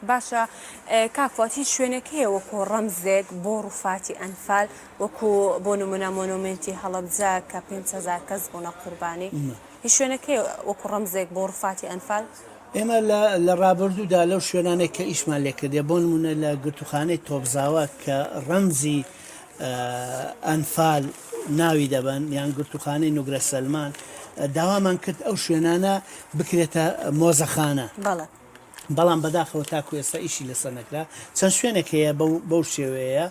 باشە کاک فواد هیچ شوێنێک هەیە وەکو ڕەمزێک بۆ ڕوفاتی ئەنفال وەکو بۆ نمونە مۆنۆمێنتی هەڵەبجە کە پێنج هەزار کەس بوونە قوربانی هیچ شوێنێک هەیە وەکو ڕەمزێک بۆ ڕوفاتی ئەنفال؟ ئێمە لە ڕابردوودا لەو شوێنانێک کە ئیشمان لێ کردیە بۆ نمونە لە گرتووخانەی تۆپزاوا کە ڕەمزی ئەنفال ناوی دەبەن یان گرتووخانەی نوگرە سەلمان داوامان کرد ئەو شوێنانە بکرێتە مۆزەخانە. بەڵێ. بەڵام بەداخەوە تاکو ئێستا ئیشی لەسەر نەکرا، چەند شوێنێک هەیە بەو شێوەیەیە،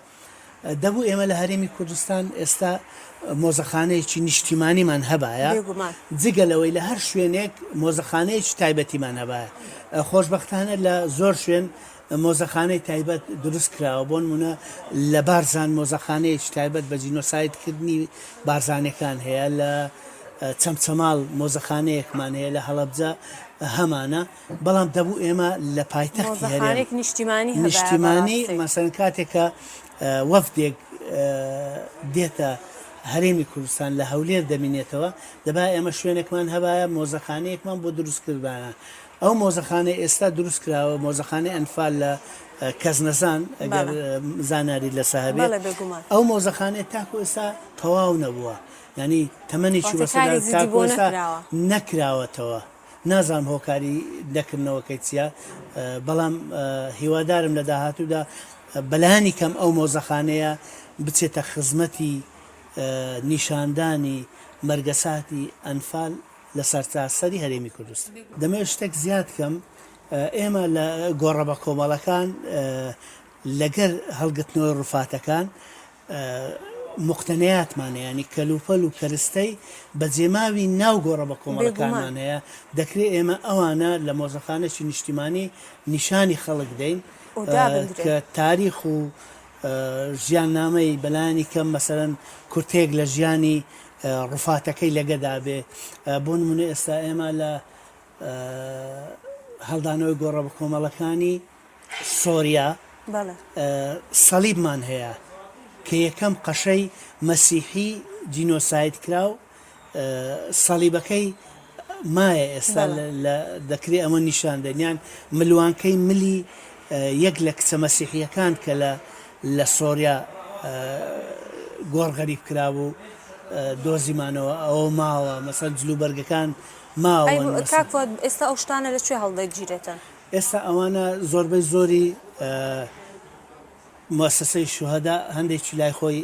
دەبوو ئێمە لە هەرێمی کوردستان ئێستا مۆزەخانەیەکی نیشتیمانیمان هەبایە، جگە لەوەی لە هەر شوێنێک مۆزەخانەیەکی تایبەتیمان هەبایە، خۆشبەختانە لە زۆر شوێن مۆزەخانەی تایبەت دروست کراوە، بۆ نموونە لە بارزان مۆزەخانەیەکی تایبەت بە جینۆسایدکردنی بارزانەکان هەیە لە چەمچەماڵ مۆزەخانەیەکمان هەیە لە هەڵەبجە هەمانە بەڵام دەبوو ئێمە لە پایتەختی هەرێم نیشتیمانی نیشتیمانی مەسەن کاتێکە وەفدێک دێتە هەرێمی کوردستان لە هەولێر دەمینێتەوە دەبا ئێمە شوێنێکمان هەبایە مۆزەخانەیەکمان بۆ دروستکردانە ئەو مۆزەخانەی ئێستا دروست کراوە مۆزەخانەی ئەنفال لە کەزنەزان ئەگەر زانیاری لەسە هەبێت ئەو مۆزەخانێت تاکو ئێستا تەواو نەبووە ینی تەمەنی چی بەسەدا نەکراوەتەوە نازانم هۆکاری دەکردنەوەکەی چیە بەڵام هیوادارم لە داهاتوودا بەلانی کەم ئەو مۆزەخانەیە بچێتە خزمەتی نیشاندانی مەرگەساتی ئەنفال لە سەرتاسەری هەرێمی کوردستان. دەمەوێت شتێک زیاد بکەم، ئێمە لە گۆڕە بەکۆمەڵەکان لەگەر هەڵگرتنەوەی ڕووفاتەکان موقتەنیاتمان هەیە، یانی کەلوپەل و کەرستەی بەجێماوی ناو گۆڕە بەکۆمەڵەکانمان هەیە، دەکرێت ئێمە ئەوانە لە مۆزەخانەی نیشتیمانی نیشانی خەڵک بدەین کە تاریخ و ژیاننامەی بەلایەنی کەم مەسەرەن کورتەیەک لە ژیانی ڕوفاتەکەی لەگەدا بێ بۆ نمونە ئێستا ئێمە لە هەڵدانەوەی گۆڕە بە کۆمەڵەکانی سۆریا سەلیبمان هەیە کە یەکەم قەشەی مەسیحی جینۆسایت کرا و سەلیبەکەی مایە ئێستا دەکرێت ئەمە نیشان دەنیان ملوانکەی ملی یەک لە کچە مەسیحیەکان کە لە لە سۆریا گۆڕ غەریب کرابوو دۆزیمانەوە ئەوە ماوە مەسەن جلو بەرگەکان ماوە ئێستا ئەو شتانە لە کوێ هەڵدەگیرێتن ئێستا ئەوانە زۆربەی زۆری مؤسسەی شوهدا هەندێکی لای خۆی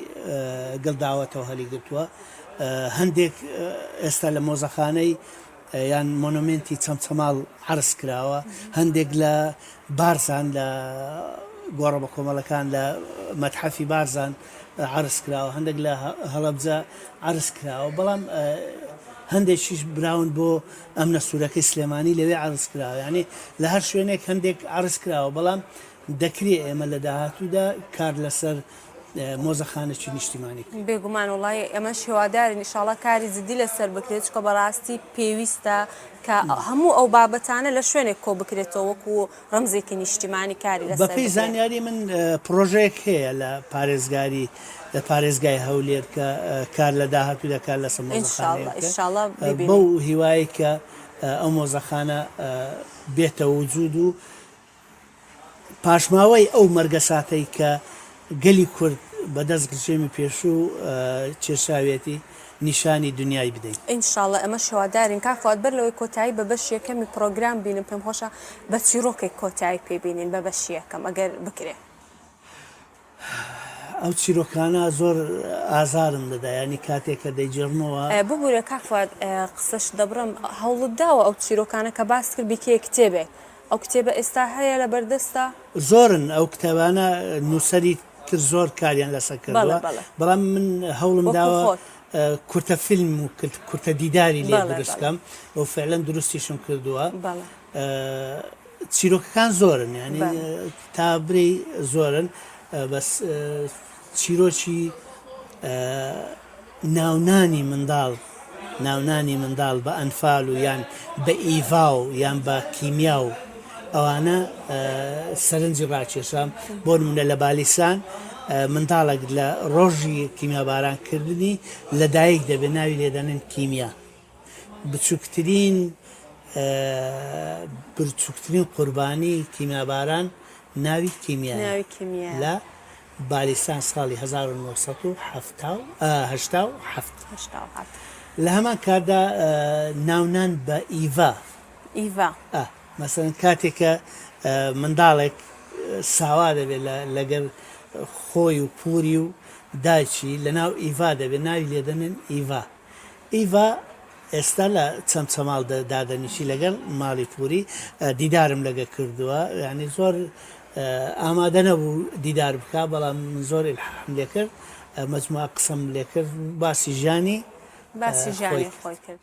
گڵداوەتەوە هەلی گرتووە هەندێک ئێستا لە مۆزەخانەی یان مۆنۆمێنتی چەمچەماڵ عەرز کراوە، هەندێک لە بارزان لە گۆڕە بەکۆمەڵەکان لە مەتحەفی بارزان عەرز کراوە، هەندێک لە هەڵەبجە عەرز کراوە، بەڵام هەندێکیش براون بۆ ئەمنە سوورەکەی سلێمانی لەوێ عەرز کراوە، یانی لە هەر شوێنێک هەندێک عەرز کراوە، بەڵام دەکرێ ئێمە لە داهاتوودا کار لەسەر مۆزەخانەکی نیشتیمانی. بێگومان وڵی ئەمەش هێوادارین ئیشاڵا کاری جددی لەسەر بکرێت چکە بەڕاستی پێویستە کە هەموو ئەو بابەتانە لە شوێنێک کۆ بکرێتەوە وەکو ڕەمزێکی نیشتیمانی کاری لە بەپی زانیاری من پرۆژەیەک هەیە لە پارێزگاری لە پارێزگای هەولێر کە کار لە داهاتوو دەکات لە سەمەڵ بەو هیوای کە ئەو مۆزەخانە بێتە وجود و پاشماوەی ئەو مەرگەساتەی کە گەلی کورد بە دەست ڕژێمی پێشوو کێشاویەتی نیشانی دنیای بدەین. ئینشاڵڵە ئەمەش هیوادارین. کاک فواد بەر لەوەی کۆتایی بە بەشی یەکەمی پڕۆگرام بینم پێم خۆشە بە چیڕۆکێک کۆتایی پێ بینین بە بەشی یەکەم ئەگەر بکرێ. ئەو چیرۆکانە زۆر ئازارم دەدا یانی کاتێک کە دەیجێڕمەوە. ببورە کاک فواد قسەشت دەبڕم، هەوڵت داوە ئەو چیرۆکانە کە باست کرد بیکەیە کتێبێک؟ ئەو کتێبە ئێستا هەیە لە بەردەستە؟ زۆرن ئەو کتێبانە نووسەری تر زۆر کاریان لەسەر کردووە، بەڵام من هەوڵم داوە کورتە فیلم و کورتە دیداری لێ دروست کەم و فیعلەن دروستیشم کردووە. چیرۆکەکان زۆرن یانی تا برێی زۆرن بەس چیرۆکی ناونانی منداڵ ناونانی منداڵ بە ئەنفال و یان بە ئیڤا و یان بە کیمیا و ئەوانە سەرنجی ڕاکێشام بۆ منە لە بالیسان منداڵێک لە ڕۆژی کیمیاباران کردنی لەدایک دەبێت ناوی لێدەنن کیمیا بچوکترین برچوکترین قوربانی کیمیاباران ناوی کیمیایە لە بالیستان ساڵی هەزار و نۆ سەد و حەفتا و هەشتا و حەفت هەشتا و حەفت. لە هەمان کاتدا ناونان بە ئیڤا ئیڤا ئا مەسەن کاتێکە منداڵێک ساوا دەبێت لەگەر خۆی و پوری و دایکی لە ناو ئیڤا دەبێت ناوی لێدەنێن ئیڤا ئیڤا، ئێستا لە چەمچەماڵ دادەنیشی لەگەڵ ماڵی پووری دیدارم لەگە کردووە یعنی زۆر ئامادە نەبوو دیدار بکە بەڵام زۆر الحم لێ کرد مجموعە قسەم لێ کرد باسی ژانی باسی ژانی خۆی کرد